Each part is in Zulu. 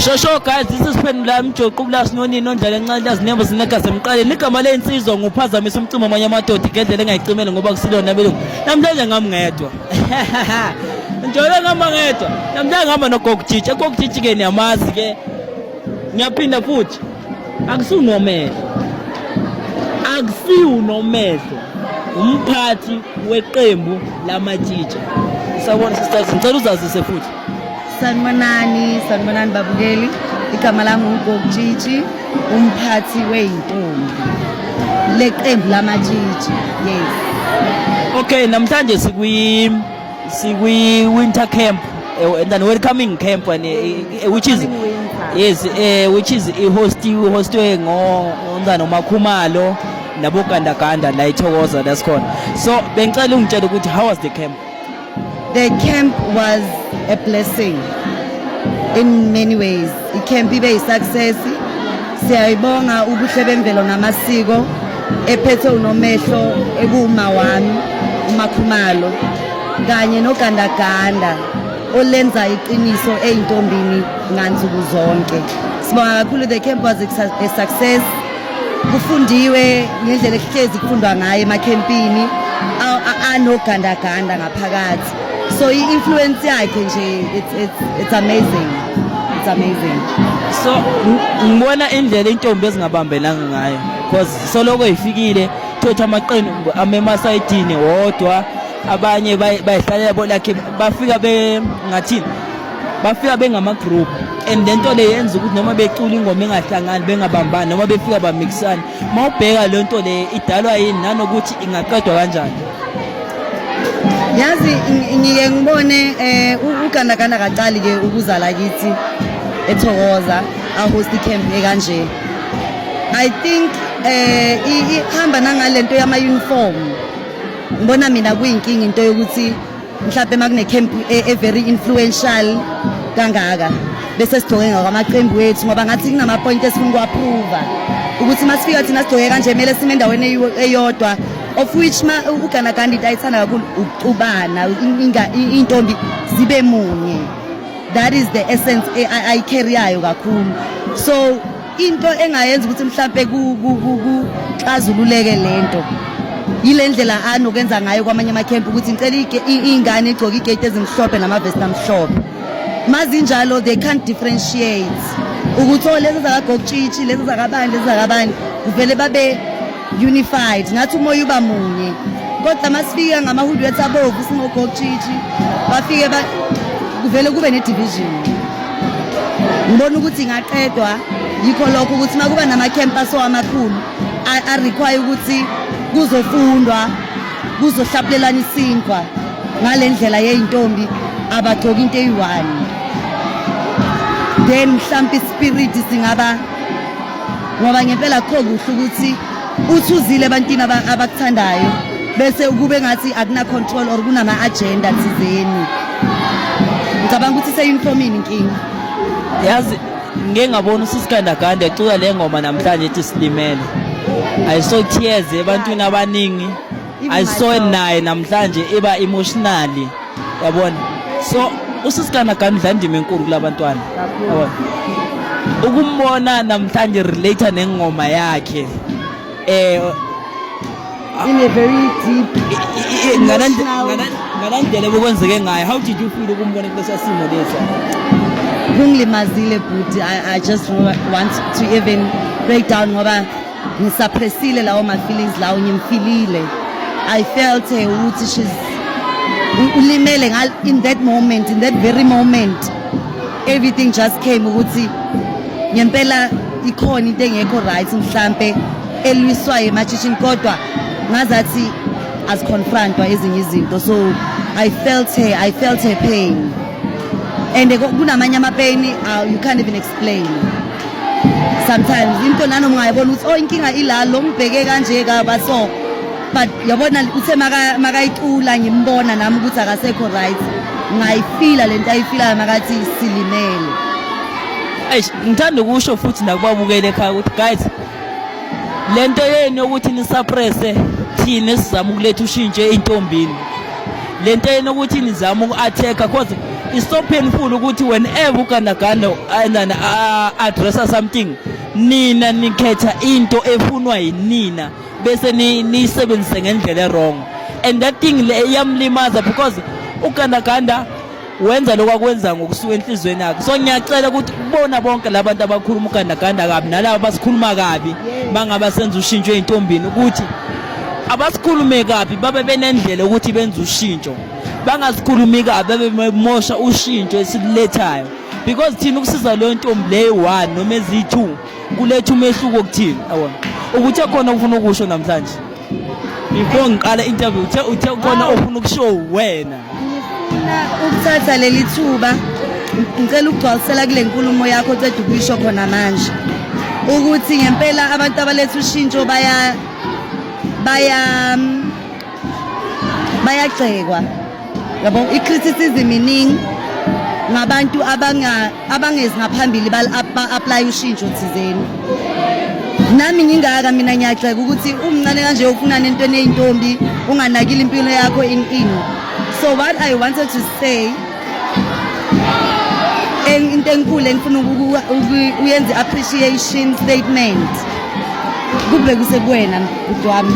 Shosho guys this is Phendula Mjoqo ukulasi nonini ondlala encane lazinembo sinegazi emqaleni igama lensizwa nguphazamisa umcimo amanye amadoda igedlela engayicimele ngoba kusilona belungu namhlanje ngami ngedwa njalo ngihamba ngedwa namhlanje ngihamba nogogujitsha egogujitshi ke niyamazi ke ngiyaphinda futhi akusiwunomehlo akusiwunomehlo umphathi weqembu lamatshitsha sabona sister ngicela uzazise futhi Sanibonani, sanibonani babukeli. Igama lami uGokutshitshi, umphathi weyintombi. Leqembu lamatshitshi. Yes. Okay, namhlanje sikwi sikwi winter camp eh, and then welcoming camp and eh, eh, which is yes eh which is ihost ihostwe ngo ngondana uMakhumalo nabogandaganda la ithokoza lesikhona so bengicela ungitshela ukuthi how was the camp The camp was a blessing in many ways. I camp ibe yi success. Siyayibonga ubuhle bemvelo namasiko ephethe unomehlo ekuwuma wami umakhumalo kanye nogandaganda olenza iqiniso eyintombini ngansuku zonke. Sibonga kakhulu the camp was a success. kufundiwe ngendlela ekuhlezi kufundwa ngayo emakhempini anogandaganda ngaphakathi so i-influence yakhe nje it's, it's, it's amazing it's amazing so ngibona indlela intombi ezingabambelanga ngayo because soloko ifikile thothi amaqembu amemasayidini wodwa abanye bayihlalela bolakhe bafika bengathini bafika bengamagroup and le nto le yenza ukuthi noma becula ingoma engahlangani bengabambani noma befika bamixana uma ubheka le nto le idalwa yini nanokuthi ingaqedwa kanjani yazi ngike ngibone um ugandaganda kacali ke ukuzala kithi ethokoza ahost camp ekanje i think um ihamba nangalento yama-uniform ngibona mina kuyinkinga into yokuthi mhlawumbe makune-camp e-very e influential kangaka bese sigcoke ngakwamaqembu wethu ngoba ngathi kunamapoyinti esifuna ukuwaphuva ukuthi uma sifika thina sigcoke kanje kumele sime endaweni eyodwa of which ugana gandi into ayithanda kakhulu ukucubana iy'ntombi zibe munye that is the essence ayicarriyayo kakhulu so into engayenza ukuthi mhlampe kuxazululeke lento yile ndlela anokenza ngayo kwamanye amakhempu ukuthi ngicela iy'ngane igcoke igate ezimhlophe namavesti amhlophe mazinjalo they can't differentiate ukuthi o oh, lezi zakagokutshitshi lezi zakabani lezi zakabani kuvele babe unified ngathi umoya uba munye kodwa masifika ngamahudu ethu abovu singogokutshitshi bafike kuvele kube ne-division ngibona ukuthi ingaqedwa yikho lokho ukuthi uma kuba nama-campus amakhulu arequire ukuthi kuzofundwa kuzohlapulelana isinkwa ngale ndlela yeyintombi abagcoki into eyi-one then mhlawumpe ispiriti singaba ngoba ngempela kukho kuhle ukuthi uthuzile ebantwini abakuthandayo bese ukube ngathi akuna-control or kunama-agenda thizeni ngicabanga ukuthi seyuniformini inkinga yazi ngike ngabona usisikandaganda ecula le ngoma namhlanje ethi silimele i saw tears ebantwini abaningi I saw it naye namhlanje iba emotionally yabona so usisikana gani udla indima enkulu kulabantwana yabona ukumbona namhlanje relate nengoma yakhe eh in a very deep ngalendlela bokwenzeke ngayo how did you feel ukumbona kulesa simo lesa kungilimazile bhuti i just want to even break down ngoba ngisaphresile lawo ma feelings lawo ngimfilile i felt her ukuthi she's ulimele in that moment in that very moment everything just came ukuthi ngempela ikhona into engekho right mhlampe elwiswayo emashishini kodwa ngazathi aziconfrontwa ezinye izinto so i felt her i felt her pain and kunamanye amapeyini uh, you can't even explain sometimes into nani ungayibona ukuthi oh inkinga ila lo ngibheke kanje kaba so but yabona uthe makayicula ngimbona nami ukuthi akasekho right ngayifila lento ayifilayo makathi silimele eish ngithanda ukusho futhi nakubabukele ekhaya ukuthi guys lento yenu yokuthi nisuppresse thina sizama ukuletha ushintsho eintombini le nto enokuthi nizame uku-athekha cause it's so painful ukuthi whenever ugandaganda andana addressa something nina nikhetha into efunwa yinina bese niyisebenzise ngendlela erong and that thing le iyamlimaza because ugandaganda wenza lokho akwenza ngokusuka enhliziyweni yakhe so ngiyacela ukuthi kubona bonke labantu abakhuluma ugandaganda kabi nalabo basikhuluma kabi bangaba senza ushintsho ezintombini ukuthi abasikhulume kabi babe benendlela ukuthi benze ushintsho bangasikhulumi kabi babe bemosha ushintsho esilethayo because thina ukusiza leyo ntombi leyo one noma eziyi-two kuletha umehluko kuthina yabona ukuthi ekhona okufuna ukusho namhlanje before ngiqala interview uthe uthe khona ofuna ukushow wena ukuthatha leli thuba ngicela ukugcwalisela kule nkulumo yakho oceda ukuyisho khona manje ukuthi ngempela abantu abaletha ushintsho baya baya bayagxekwa yabo i-criticism iningi ngabantu abangezi ngaphambili ba-aplaye ushintsho thizeni nami ngingaka mina ngiyagxeka ukuthi umncane kanje ufunana entweni eyintombi unganakile impilo yakho in in so what i wanted to say into enkulu engifuna uyenze appreciation statement kube kusekuwena mdwami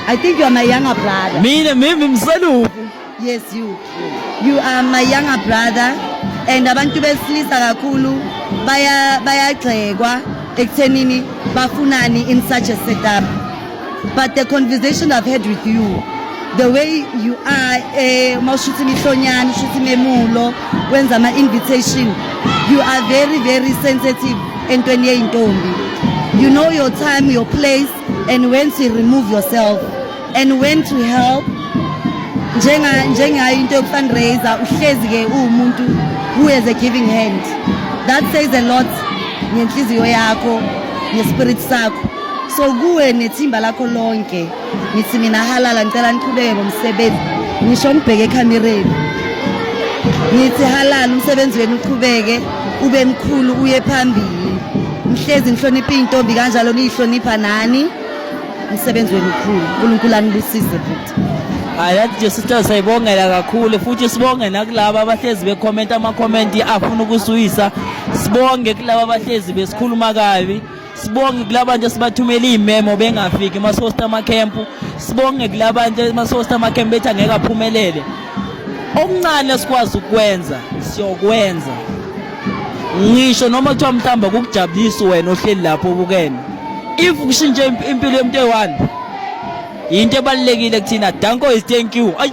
I think you are my younger brother. Mina mimi mseluku. Yes you. You are my younger brother and abantu besilisa kakhulu baya bayagxekwa ekuthenini bafunani in such a setup. But the conversation I've had with you the way you are eh uma ushuthi imihlonyana ushuthi memulo wenza ama invitation you are very very sensitive entweni yeintombi you know your time your place and when to remove yourself and when to help njenga njengayo into yokufundraiser uhlezi ke uwumuntu who has a giving hand that says a lot ngenhliziyo yakho ngespirit sakho so kuwe nethimba lakho lonke ngithi mina halala ngicela niqhubeke ngomsebenzi ngisho ngibheke ekhamereni ngithi halala umsebenzi wenu uqhubeke ube mkhulu uye phambili Ngihlezi ngihlonipha intombi kanjalo niyihlonipha nani. Umsebenzi wenu mkhulu. uNkulunkulu anibusise futhi. Hayi that nje sister sayibongela kakhulu futhi sibonge nakulabo abahlezi becomment ama comment afuna ukusuyisa. Sibonge kulabo abahlezi besikhuluma kabi. sibonge kulabantu esibathumela iy'memo bengafiki emasosta amakhempu sibonge kulabantu emasosta amakhempu bethi angeke aphumelele okuncane esikwazi ukwenza siyokwenza ngisho noma kuthiwa mhlawumbe kukujabulisa wena ohleli lapho ubukene if kushintshe impilo yomuntu eyi-one yinto ebalulekile kuthina danko is thank you ayi